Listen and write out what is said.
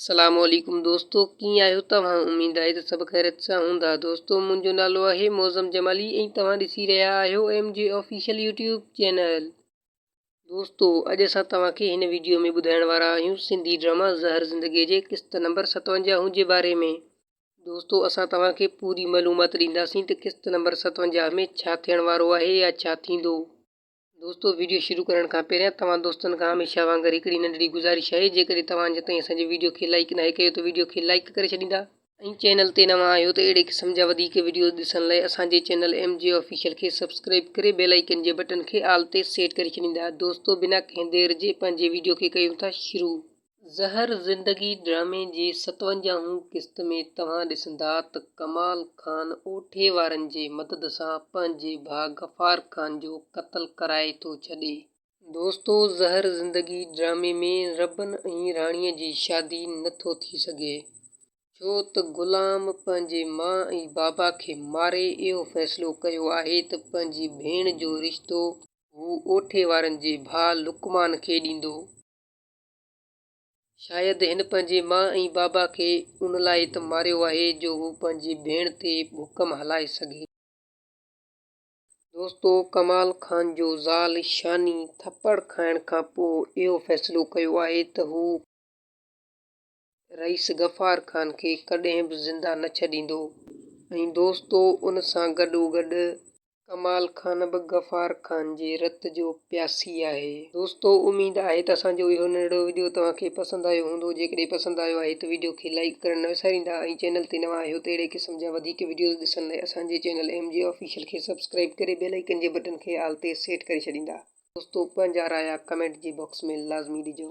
سلام عليڪم دوستو ڪيئن آهيو توهان اميد آهي ته سڀ خيريت سان هوندا دوستو منهنجو نالو آهي معظم جمالي ۽ توهان ڏسي رهيا آهيو M G official YouTube channel دوستو اڄ اسان توهان کي هن ويڊيو ۾ ٻڌائڻ وارا آهيون سنڌي ڊراما زهر زندگي جي قسط نمبر ستونجاهون جي باري ۾ دوستو اسان توهان کي پوري معلومات ڏينداسين ته قسط نمبر ستونجاهه ۾ ڇا ٿيڻ وارو آهي يا ڇا ٿيندو. دوستو ويڊيو شروع ڪرڻ کان پهريان توهان دوستن کان هميشه وانگر هڪڙي ننڍڙي گذارش آهي جيڪڏهن توهان اڃا تائين اسان جي ويڊيو کي لائيڪ ناهي ڪيو ته ويڊيو کي لائيڪ ڪري ڇڏيندا ۽ چينل تي نوان آهيو ته اهڙي قسم جا وڌيڪ ويڊيوز ڏسڻ لاء اسان جي چينل ايم جي آفيشل کي سبسڪرائيب ڪري بيل آئيڪن جي بٽن کي آل تي سيٽ ڪري ڇڏيندا دوستو بنا ڪنهن دير جي پنهنجي ويڊيو کي ڪيون ٿا شروع. زهر زندگي ڊرامي جي ستونجاهون قسط ۾ توهان ڏسندا ته ڪمال خان اوٺي وارن جي مدد سان پنهنجي ڀاء غفار خان جو قتل ڪرائي ٿو ڇڏي. دوستو زهر زندگي ڊرامي ۾ ربن ۽ راڻي جي شادي نه ٿو ٿي سگهي ڇو ته غلام پنهنجي ماء ۽ بابا کي ماري اهو فيصلو ڪيو آهي ته پنهنجي ڀيڻ جو رشتو هو اوٺي وارن جي ڀاء لقمان کي ڏيندو. شايد هن پنهنجي ماء ۽ بابا کي ان لاء ته ماريو آهي جو هو پنهنجي ڀيڻ تي حڪم هلائي سگهي. دوستو ڪمال خان جو زال شاني ٿڦڙ کائڻ کان پوء اهو فيصلو ڪيو آهي ته هو. رئيس غفار خان کي ڪڏهن به زنده نه ڇڏيندو ۽ دوستو ان سان گڏو گڏ ڪمال خان به غفار خان جي رت جو پياسي آهي. دوستو اميد آهي ته اسان جو اهو ننڍڙو وڊيو توهان کي پسند آيو هوندو جيڪڏهن پسند آيو آهي ته وڊيو کي لائيڪ ڪرڻ نه وساريندا ۽ چينل تي نوان آهيو ته اهڙي قسم جا وڌيڪ وڊيوز ڏسڻ لاء اسان جي چينل ايم جي آفيشل کي سبسڪرائيب ڪري بيل آئيڪن جي بٽن کي آل تي سيٽ ڪري ڇڏيندا. دوستو پنهنجا رايا ڪمينٽ جي باڪس ۾ لازمي ڏجو.